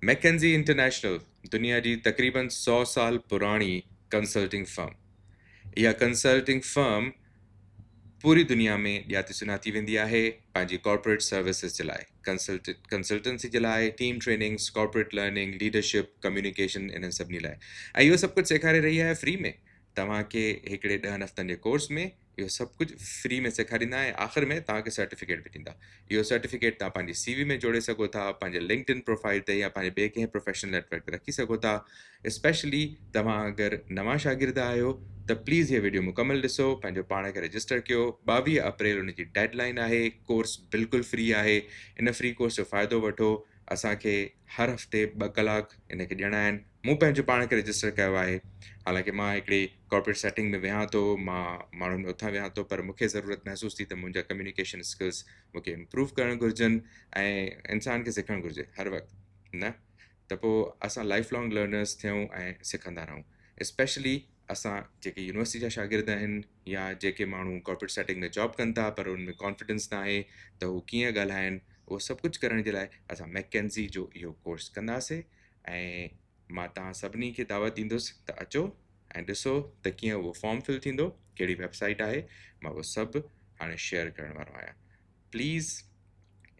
McKinsey International دنيا جي تقريباً سؤ سال پراڻي ڪنسلٽنگ فرم. اها ڪنسلٽنگ فرم پوري دنيا ۾ ڄاتي سڃاتي ويندي آهي پنهنجي ڪارپوريٽ سروسز جي لاء، ڪنسلٽنسي جي لاء، team trainings, corporate learning, leadership, communication انهن سڀني لاء. ۽ اهو سڀ ڪجهه سيکاري رهي آهي فري ۾، توهان کي هڪڙي ڏهن هفتن جي ڪورس ۾. اهو سڀ ڪجهه فري ۾ سيکاريندا ۽ آخر ۾ توهان کي سرٽيفڪيٽ به ڏيندا اهو سرٽيفڪيٽ توهان پنهنجي سي وي ۾ جوڙي سگهو ٿا پنهنجي لنڪڊ ان پروفائل تي يا پنهنجي ٻئي ڪنهن پروفيشنل نيٽورڪ تي رکي سگهو ٿا اسپيشلي توهان اگر نوان شاگرد آهيو ته پليز هي ويڊيو مڪمل ڏسو پنهنجو پاڻ کي رجسٽر ڪيو ٻاويهه اپريل ان جي ڊيڊ لائن آهي ڪورس بلڪل فري آهي ان فري ڪورس جو فائدو وٺو اسان کي هر هفتي ٻه ڪلاڪ ان کي ڏيڻا آهن مون پنهنجو پاڻ کي رجسٽر ڪيو آهي حالانڪ مان هڪڙي ڪارپوريٽ سيٽنگ ۾ ويهان ٿو مان ماڻهن ۾ اٿان ويهان ٿو پر مون کي ضرورت محسوس ٿي ته منهنجا ڪميونيڪيشن اسڪلس مون کي امپروو ڪرڻ گهرجن ۽ انسان کي سکڻ گهرجي هر وقت نه ته پوء اسان لائف لانگ لرنرس ٿيون ۽ سکندا رهون اسپيشلي اسان جيڪي يونيورسٽي جا شاگرد آهن يا جيڪي ماڻهو ڪارپوريٽ سيٽنگ ۾ جاب ڪن ٿا پر ان ۾ ڪانفيڊنس نه آهي ته هو ڪيئن ڳالهائن اهو سڀ ڪجهه ڪرڻ جي لاء اسان ميڪ ڪينزي جو اهو ڪورس ڪنداسي ۽ مان توهان سڀني کي دعوت ڏيندس ته اچو ۽ ڏسو ته ڪيئن اهو فارم فل ٿيندو ڪهڙي ويبسائيٽ آهي مان اهو سڀ هاڻي شيئر ڪرڻ وارو آهيان پليز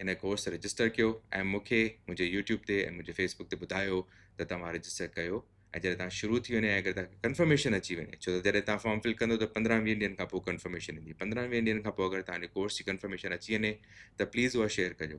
ان ڪورس رجسٽر ڪيو ۽ مونکي منهنجي يوٽيوب تي ۽ منهنجي فيسبوڪ تي ٻڌايو ته توهان رجسٽر ڪيو ۽ جڏهن توهان شروع ٿي وڃي اگر توهان ڪنفرميشن اچي وڃي ڇو ته جڏهن توهان فارم فل ڪندو ته پندرهن ويهن ڏينهن کان پوء ڪنفرميشن ايندي پندرهن ويهن ڏينهن کان پوء اگر توهان جو ڪورس جي ڪنفرميشن اچي وڃي ته پليز اها شيئر ڪجو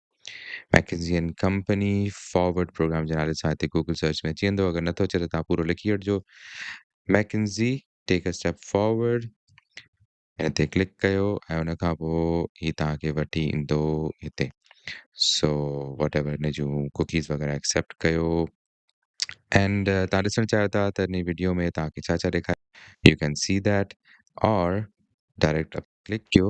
McKinsey and company forward program جي نالي سان هتي گوگل سرچ ۾ اچي ويندو اگر نٿو اچي ته تان پورو لکي وٺجو McKinsey take a step forward ان تي ڪلڪ ڪيو ۽ ان کان پوء هي تان کي وٺي ايندو هتي سو واٽ ايور ان جون ڪوڪيز وغيرہ ايڪسيپٽ ڪيو اینڊ تان ڏسڻ چاهيو ٿا ته ان ويڊيو ۾ تان کي ڇا ڇا ڏيکار يو ڪين سي ڌيٽ اور ڊائريڪٽ ڪلڪ ڪيو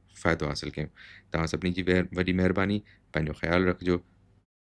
فائدو حاصل ڪيون توهان سڀني جي وڏي مهرباني پنهنجو خيال رکجو.